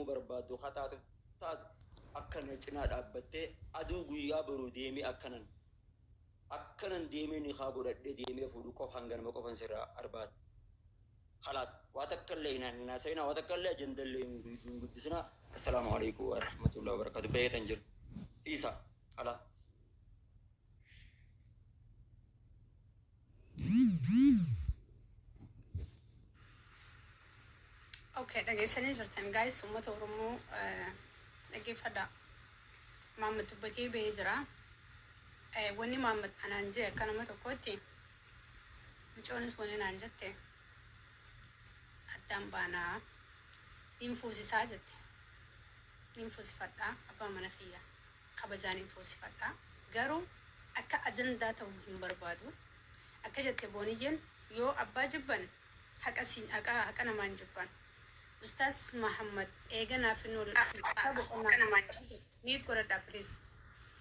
barbaaddu ha taatu taatu akka na cinaa dhaabbattee aduu guyyaa boru deemii akkanan akkanan deemee nikaa godhadhee deemee fuudhu qofa hanganuma qofan sirraa arbaada kalaas waa takkallee hin haasayinaa waa takkallee ajandallee hin hin guddisinaa assalaamu aleykum warahmatullahi wabarakaatu baheetan jira dhiisaa qalaa. Okay, dhageessanii jirtan guys uummata Oromoo eh, dhaggeeffadhaa. Maammad dubbatee ba'ee jira. Eh, Wanni Maammad anaan jee akka nama tokkootti mucoonis wanni naan jette addaan baanaa niin fuusisaa jette niin fuusifadhaa abbaa mana kiyyaa. kabajaan hin fuunsifadha. Garuu akka ajandaa tahu hin barbaadu. Akka jette Booniyyeen yoo abbaa jibban haqa siin haqaa haqa namaa hin jibban. Ustaaz Mahaammad eega naaf hin oolu dhufne takkaa boqonnaa hin fudhatu jedhe. Mute godhadhaa please.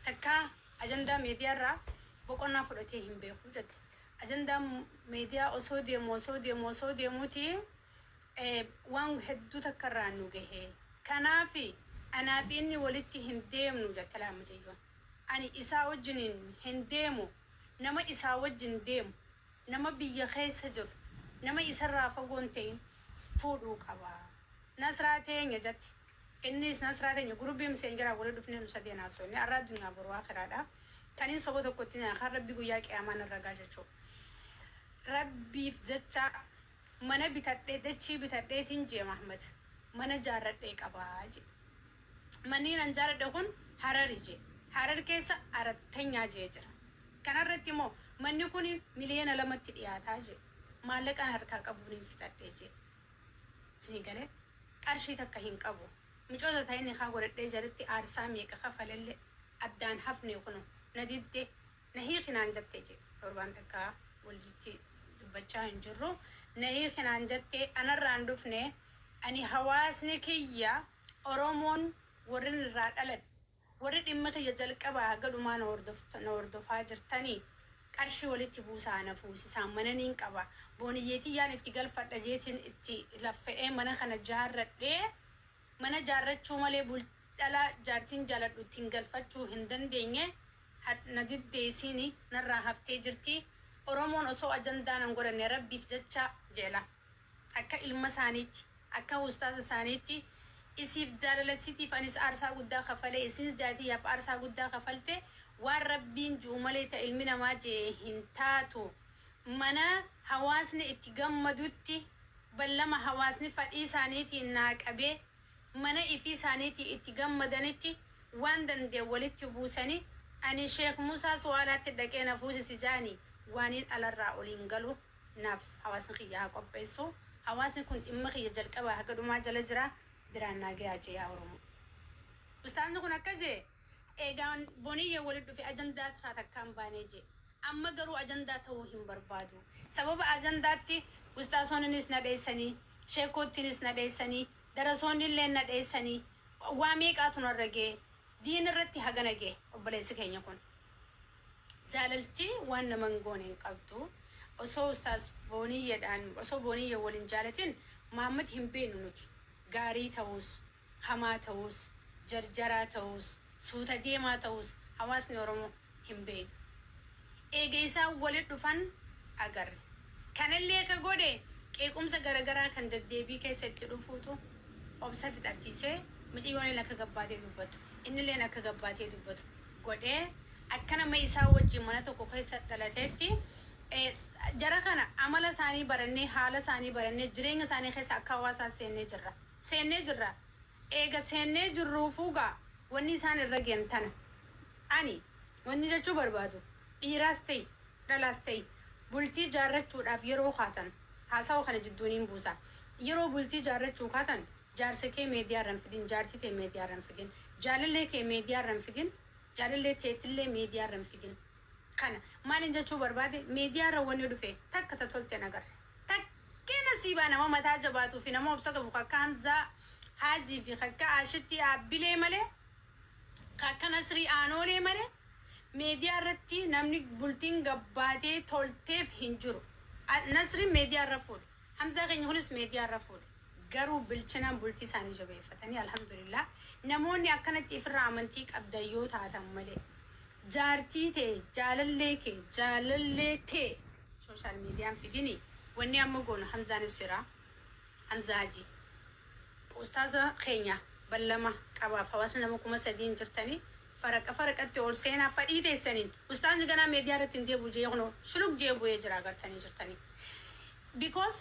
Takkaa ajandaa media irraa boqonnaa fudhatee hin beeku jette. Ajandaan media osoo deemu osoo deemu osoo deemuuti waan hedduu takka irraan nu gahe. Kanaaf anaa fi inni walitti hin deemnu jette laal mucayyoon. Ani isaa wajjiniin hin deemu, nama isaa wajjin deemu, nama biyya keessa jiru, nama isa irraa fagoo hin ta'in fuudhuu qaba. Nasraa teenya jette. Innis Nasraa teenya group msn irraa walitti dhufnee nu sadeen haasofne. Arraa addunyaa boru aakhiraa dha. Kan hin soba tokko itti hin hiina kan Rabbi guyyaa qiyaamaa narra gaha jechuu. Rabbiif jecha Mana bitadhe dachii bitadheetiin J Mahmad mana jaarradhee qaba J Manni nan jaaradhe kun Harari J Harar keessa Arattanyaa J jira kanarratti moo manni kuni miliyoona lamatti dhiyaata J Maallaqan harkaa qabuunin fixadhe J Isinii galee Qarshii takka hin qabu Micoota tahe nikaa godhadhee jalatti aarsaa meeqa kafalelle addaan hafne kuno na didde Na hiiki naan jatte je. Torbaan takka waljitti dubbachaa hin jirru. Na hiiki naan jatte anarraa hin dhufne. Ani hawaasni kiyya Oromoon warrin irraa dhaladhe warri dhimma kiyya jalqabaa haga dhumaa na hordofta na hordofaa jirtani qarshii walitti buusaa na fuusisaan mana niin qaba booniyyee tiyyaan itti galfadha jeetiin itti laffa'ee mana kana jaarradhee mana jaarrachuu malee bul dhala jaartiin jaaladhu ittiin galfachuu hin dandeenye had na diddee isiini narraa haftee jirtii oromoon osoo ajandaa nan godhanne rabbiif jecha jeela akka ilma isaaniitti akka ustaaza isaaniitti isiif jaalala isitiif anis aarsaa guddaa kafalee isiins jaatiyaaf aarsaa guddaa kafalte waan rabbiin ju'u malee ta ilmi namaa je'e hin taatu mana hawaasni itti gammadutti ballama hawaasni fadhii isaaniitiin naa qabee mana ifii saaniitii itti gammadanitti waan dandeen walitti buusani ani sheikh musaa suwaalaatti dhaqee na fuusisi jaani waaniin alarraa ol hin galu naaf hawaasni kiyya haa qopheessu hawaasni kun dhimma kiyya jalqabaa haga dhumaa jala jira biraan naa gayaa jee yaa oromoo ustaazni kun akkas jee eegaa boniyya wali dhufe ajandaa takkaa hin baanee jee Amma garuu ajandaa ta'uu hin barbaadu. Sababa ajandaatti Ustaazoonninis na dheessanii, Sheekkoottiinis na dheessanii, Darasoonnilleen na dheessanii, waa meeqaatu narra gahe. Diin irratti hagana gahe obboleessi keenya kun. Jaalalti waan nama hin goone hin qabdu. Osoo Ustaaz Booniyyeedhaan, osoo Booniyye wal hin jaalatin Muhammad hin beeknu nuti. Gaarii ta'uus, hamaa ta'uus, jarjaraa ta'uus, suuta deemaa ta'uus hawaasni Oromoo hin beekne. Eega isaan wali dhufan agarre. Kanallee ka godhe qeequmsa garagaraa kan daddeebii keessa itti dhufuutu obsa fixachiisee miciyyoonillee akka gabbaatee dubbattu, innilleen akka gabbaatee dubbatu godhee akka nama isaa wajjin mana tokko keessa dhalateetti jara kana amala isaanii barannee, haala isaanii barannee, jireenya isaanii keessa akka hawaasaa seennee jirra. seennee jirra. Eega seennee jirruufuugaa wanni isaan irra geyan tana. Ani wanni jechuu barbaadu, dhiiraas ta'i, dhalaas ta'i, bultii jaarrachuudhaaf yeroo kaatan, haasawa kana jidduu niin buusa, yeroo bultii jaarrachuu kaatan, jaarsa kee meediyaa irra hin fidin, jaartii tee meediyaa irra hin fidin, jaalallee kee meediyaa irra hin fidin, jaalallee teetillee meediyaa irra hin fidin. Kana. Maaliin jechuu barbaade, meediyaa irra wanni dhufe takka ta tolte hin agarre. Takkee nasiibaa nama mataa jabaatuu fi nama obsa qabu ka akka Hamzaa Haajii fi ka akka Aashittii Aabbilee malee, ka akka Nasrii Aanoolee malee media irratti namni bultiin gabbaatee tolteef hin jiru. Nasriin media irra fuudhe. Hamzaa keenya kunis media irra fuudhe. Garuu bilchinaan bultii isaanii jabeeffatanii alhamdulillah namoonni akkanatti ifirraa amantii qabdan yoo taatan malee jaartii tee, jaalallee kee, jaalallee tee, Social media hin figini wanni amma goonu hamzaanis jira hamza haji ustaaza keenya ballama qabaaf hawaasni nama kuma sadii hin jirtani faraqa faraqatti ol seenaa fadhii teessaniin ustaazni ganaa media irratti hin deebu jee kunoo shuluk jee bu'ee jira agartanii jirtani because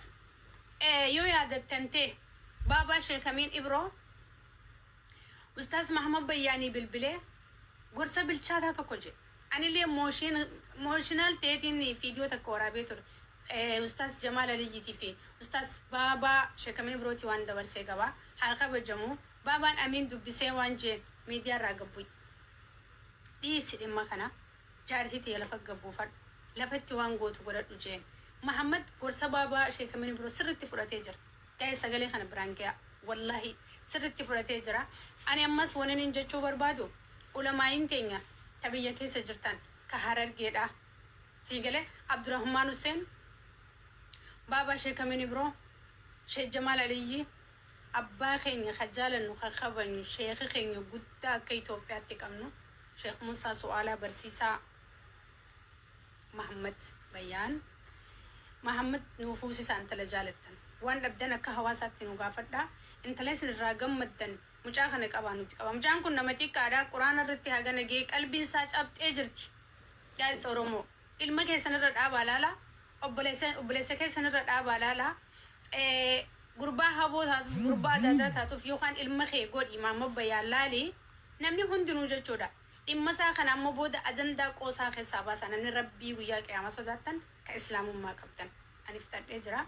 yoo yaadattan tee baabaa sheekamiin ibroo Ustaaz Mahmad Bayyaanii bilbilee gorsa bilchaataa tokko jedhe. Anillee emotion- emotional ta'eetiin viidiyoo takka waraabee ture. Eh, Ustaaz Jamaal Aliyyiitii fi Ustaaz Baabaa Sheekamee Birootii waan dabarsee qaba. Haa kabajamu. Baabaan Amiin dubbisee waan jeen miidiyaa irraa gad bu'i. Dhiisi dhimma kana. Jaartii tiyya lafa gad buufadhu. Lafatti waan gootu godhadhu jeen. Mahammad gorsa Baabaa Sheekamee Biroo sirriitti fudhatee jira. Guys sagalee kana biraan gayaa wallahi sirritti fudhatee jira ani ammas waninin jechuu barbaadu ulamaa'iin teenya ta biyya keessa jirtan ka harargeedha sii galee abdurahmaan husseen baabaa shee kamin ibroo shee jamaal aliyyi abbaa keenya ka jaalannu ka kabanyu sheekha keenya guddaa akka itoophiyaatti qabnu sheekh muusaa su'aalaa barsiisaa Mahammad Bayyaan Mahammad nuu fuusisaa intala jaalattan waan dhabdan akka hawaasaatti nuu gaafadhaa intala isin irraa gammaddan mucaa kana qabaa nuti qaba mucaan kun nama xiqqaadha quraana irratti hagana gahee qalbiin isaa cabxee jirti guys oromoo ilma keessan irra dhaabaa laala obboleessa obboleessa keessan irra dhaabaa laala eh, gurbaa haboo taatuuf gurbaa adaadaa taatuuf yookaan ilma kee godhi maamma bayyaa laali namni hundinuu jechuudha Dhimma isaa kana ammoo booda ajandaa qoosaa keessaa baasaa namni Rabbii guyyaa qiyaamaa sodaattan ka islaamummaa qabdan ani fixadhee jira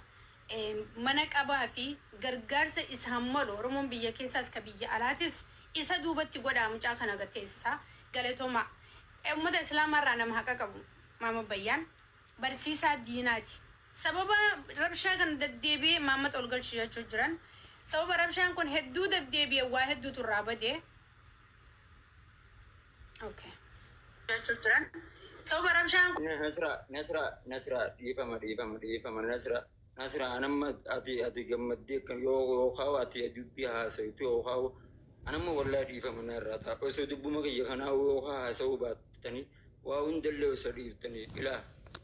mana qabaa fi gargaarsa isaan malu oromoon biyya keessaas ka biyya alaatis isa duubatti godhaa mucaa kana gad teessisaa galatoomaa ummata islaamaa irraa nama haqa qabu Maamad Bayyaan barsiisaa diinaati sababa rabshaa kana daddeebi'ee imaammata ol galchi jechuu jiran sababa rabshaan kun hedduu daddeebi'e waa hedduutu irraa bade Okay. jechuu jiran sababa rabshaan kun Nasra, Nasra, Nasra, dhiifama, dhiifama, dhiifama, Nasra, Nasra, anamma ati ati gammaddee akka yoo yoo kaa'u ati dubbii haasawtu yoo kaa'u anamma wallaahi dhiifama narraa ta'a. Osoo dubbuma kiyya kanaa yoo kaa haasawuu baattanii waa hundallee osoo dhiiftanii ilaa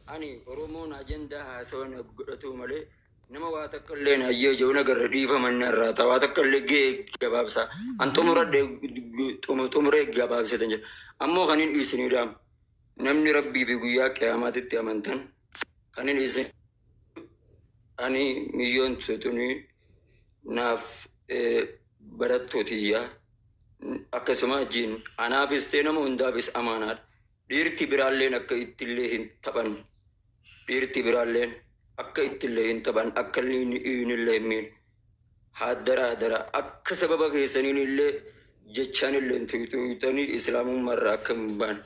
ani Oromoon ajandaa haasawan godhatuu malee Nama waa takka illee hin hayyee jiru na garre dhiifama inni irraa ta'a. Waa takka illee gahee gabaabsa. An xumuradhe xumuree gabaabsetan jedha. Ammoo kan hin isin hidhaam. Namni rabbii fi guyyaa qiyaamaatitti amantan kan hin isin ani miyyoon tutuni naaf barattuu tiyya akkasuma jiin anaafis ta'e nama hundaafis amaanaadha. Dhiirti biraalleen akka ittillee hin taphan Dhiirti biraalleen akka ittillee hin taphan akka iinillee hin miine haaddara haaddara akka sababa keessaniinillee jechaanillee hin tuyxuyxanii islaamummaa irraa akka hin baan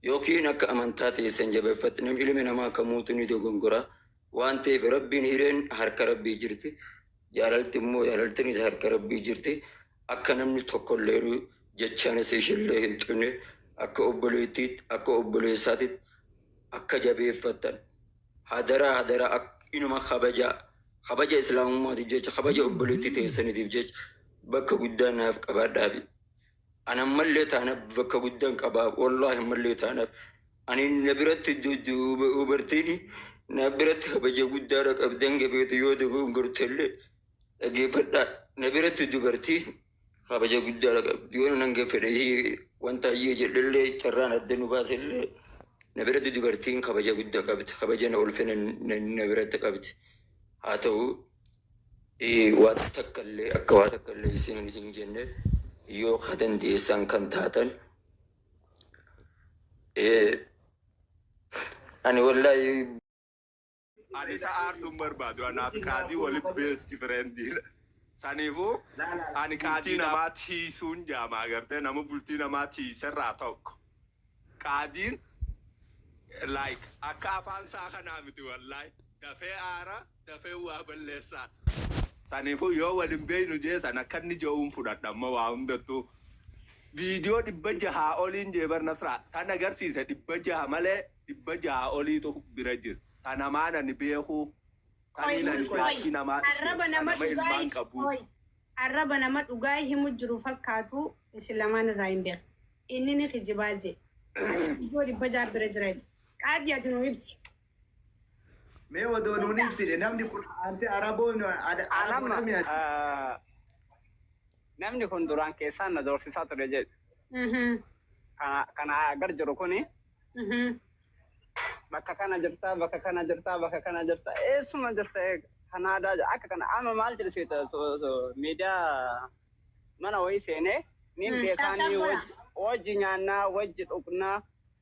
yookiin akka amantaa teessan jabeeffatnam ilmi namaa kamuutu ni dogongora Waan ta'eef Rabbiin hireen harka Rabbii jirti, jaalalti immoo jaalaltinis harka Rabbii jirti. Akka namni tokkolleenu jechaanis ishiillee hin tuqne, akka obboleettiitti, akka obboleessaatitti akka jabeeffattan hadaraa hadaraa ak, inuma kabajaa. Kabaja Islaamummaatiif jecha, kabaja obboleettii teessaniitiif jecha bakka guddaa naaf qabaadhaafi. An ammallee taana bakka guddan qaba wallahi ammallee taana ani na biratti dubartiin na biratti kabaja guddaadha qabdan gabeetu yoo dogongortellee dhageeffadha na biratti dubartii kabaja guddaadha qabdi yoo nan gaffedhe wanta ayyee jedhellee carraan adda nu baasellee na biratti dubartiin kabaja guddaa qabdi kabaja na ulfina na biratti qabdi haa ta'u Waanta takka illee akka waa takka illee isiniin hin jenne yoo ka dandeessan kan taatan ani wallaahi Ani isa aarsuun barbaadu anaaf qaadii wali beesti fireendiidha. Saniifuu ani qaadii namaa tiisuun jaamaa gartee nama bultii namaa tiiserraa tokko. Qaadiin like akka afaan isaa kanaa miti wallahi dafee aara dafee waa balleessaas saniifuu yoo wal hin beeynu jee san akka inni je'uun fudhadha amma waa hundattuu viidiyoo dhibba jahaa oliin jee bar nasraa tan agarsiise dhibba jaha malee dhibba jahaa oliitu bira jira ta namaan ani beekuu Qoy taniin ani qoy jaartii namaa dhufte arraba ta nama nama dhugaa ilmaan qabuu qoy arraba nama dhugaa himu jiru fakkaatu isin lamaan irraa hin beeku. Inni ni kijibaa je. Ijoo dhibba ja'a bira jira je. Qaadii ati nuu ibsi. Mee odoo nuun ibsine namni kun aanti Araboon Araboo Anamma dhamee ati. ah, namni kun duraan keessaan na doorsisaa ture jedhu. Mhm. Kana kana gar jiru kuni Mhm. bakka kana jirtaa bakka kana jirtaa bakka kana jirtaa eessuma jirta eega. Kanaadaa jedha. akka kana amma maal jedhisiita miidiyaa Mana wayii seenee niin beekaa ni wajji nyaannaa wajji dhugnaa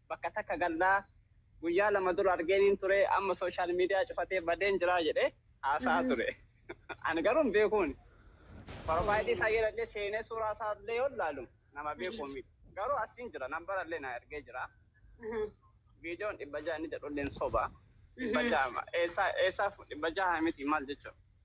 bakka takka gallaa guyyaa lama dura argeeniin ture amma social media cufatee badeen jiraa jedhee haasa'aa ture ani garuu hin beekuuni profile isaa yelallee seenee suuraa isaa illee yoo laalu nama beekuu miti garuu asiin jira nambara illee naa ergee jira viidiyoon dhibba ja'a inni jedhu illee soba dhibba ja'a eessaa eessaa dhibba ja'a miti maal jechuudha.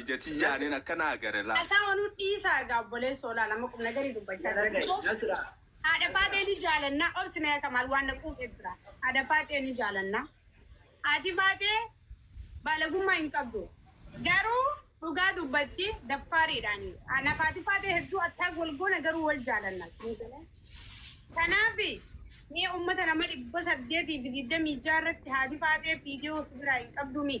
Ija tiyyaanin akkan agare laa. Asaa onuu dhiisaa egaa obboleessoo laal amma qumnagarii dubbachaa jira because haadha faaxee ni jaalannaa obsi mee kamaal waan na quuqe jira haadha faaxee ni jaalannaa haati faaxee baalagummaa hin qabdu garuu dhugaa dubbatti daffaariidhaani anaaf haati faaxee hedduu attaak wal goona garuu wal jaalanna isinii galee kanaafi mee ummata nama dhibba saddeetii fi digdamii ja'a irratti haati faaxee viidiyoo si biraa hin qabdumii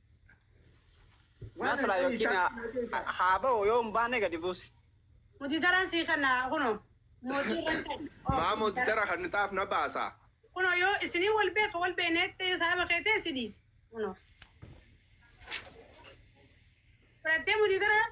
Nasra yookiin haa ba'u yoo hin baane gadi buusi. Mutitaraan sii kana kuno mootii irraan ta'e. Maa mootitara kan taaf na baasa. Kuno yoo isinii wal beeka wal beeneettee yoo sababa kee ta'e si dhiise. Kuno. Fudhattee mutitaraan.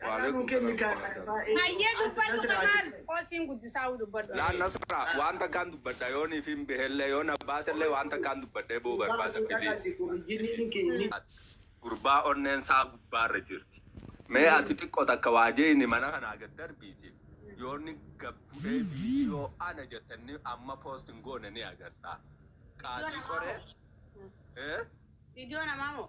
Carraa nuu kenni kaa. Hayyee dubbadhu maal qoosiin guddisaa uu dubbadhu. Laa nasra waan takkaan dubbadha yoon ifiin behellee yoon abbaasellee waan takkaan dubbadhee boo barbaada please. Gurbaa onneen isaa gubbaarra jirti. Mee ati xiqqo takka waa jeeyni mana kanaa gad darbiiti yoonni gad bu'ee viidiyoo ana jette inni amma post hin goone ni agarta. Qaadii qoree. Viidiyoo namaa moo?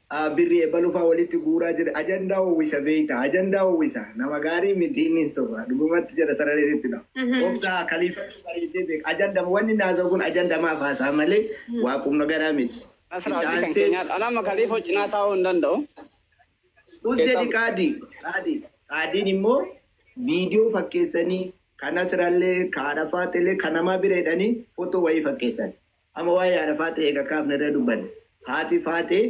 A birri ebalu faa walitti guuraa jira ajandaa wawwisa beeyta ajandaa wawwisa nama gaarii miti inni hin soba dhugumatti jedha sarareetu itti dhama obsa kaliifatu bareedee beeka ajandama wanni inni haasawu kun ajandamaaf haasaha malee waa qumnagaraa miti Nasra itti abdii kan aansee keenyaadha. Ani amma kaliifoo cinaa taa'uu hin danda'u. Us jedhi Keessaa- qaadii qaadii qaadiin immoo viidiyoo fakkeessanii kan asirallee ka arafaatillee kan namaa bira hidhanii footoo wayii fakkeessan Amma waa'ee haadha faaxee eega kaafne irra dubbanne. Haati faaxee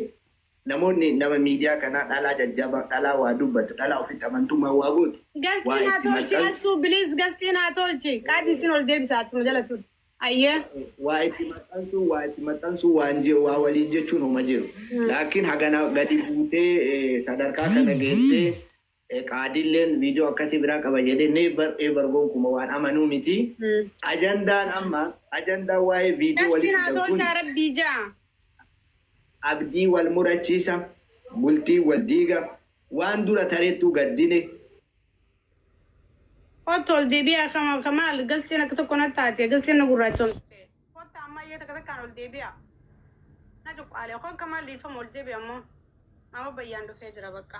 namoonni nama miidiyaa kanaa dhalaa jajjaba, dhalaa waa dubbatu, dhalaa ofitti amantummaan waa gootu, Guest waa in haa itti tolchi maxxansu, Assuu please guest in haa tolchi. Qaadi isin ol deebisa achuma jala turi. Ayyee. waa itti maxxansu, waa itti maxxansu, waan je- waa waliin jechuun homa jiru. Laakiin hagana gadi buutee eh, sadarkaa kana geessee Qaadiilleen video akkasii biraa qaba jedhee never ever gonkuma waan amanuu miti. Ajandaan amma ajandaan waa'ee video Nafti walitti naa fidan kun tolchaa rabbii jaa. abdii wal murachiisa, bultii wal diiga, waan dura tareettuu gaddine. Kottu ol deebi'aa kama kamaal gastiin akka tokko na taate gastiin na gurraachomsite. Kottaa ammayyee takka takkaan ol deebi'aa. Na cuqqaalee koo akka maal dhiifama ol deebi'a immoo. Amma bayyaan dhufee jira baqqa.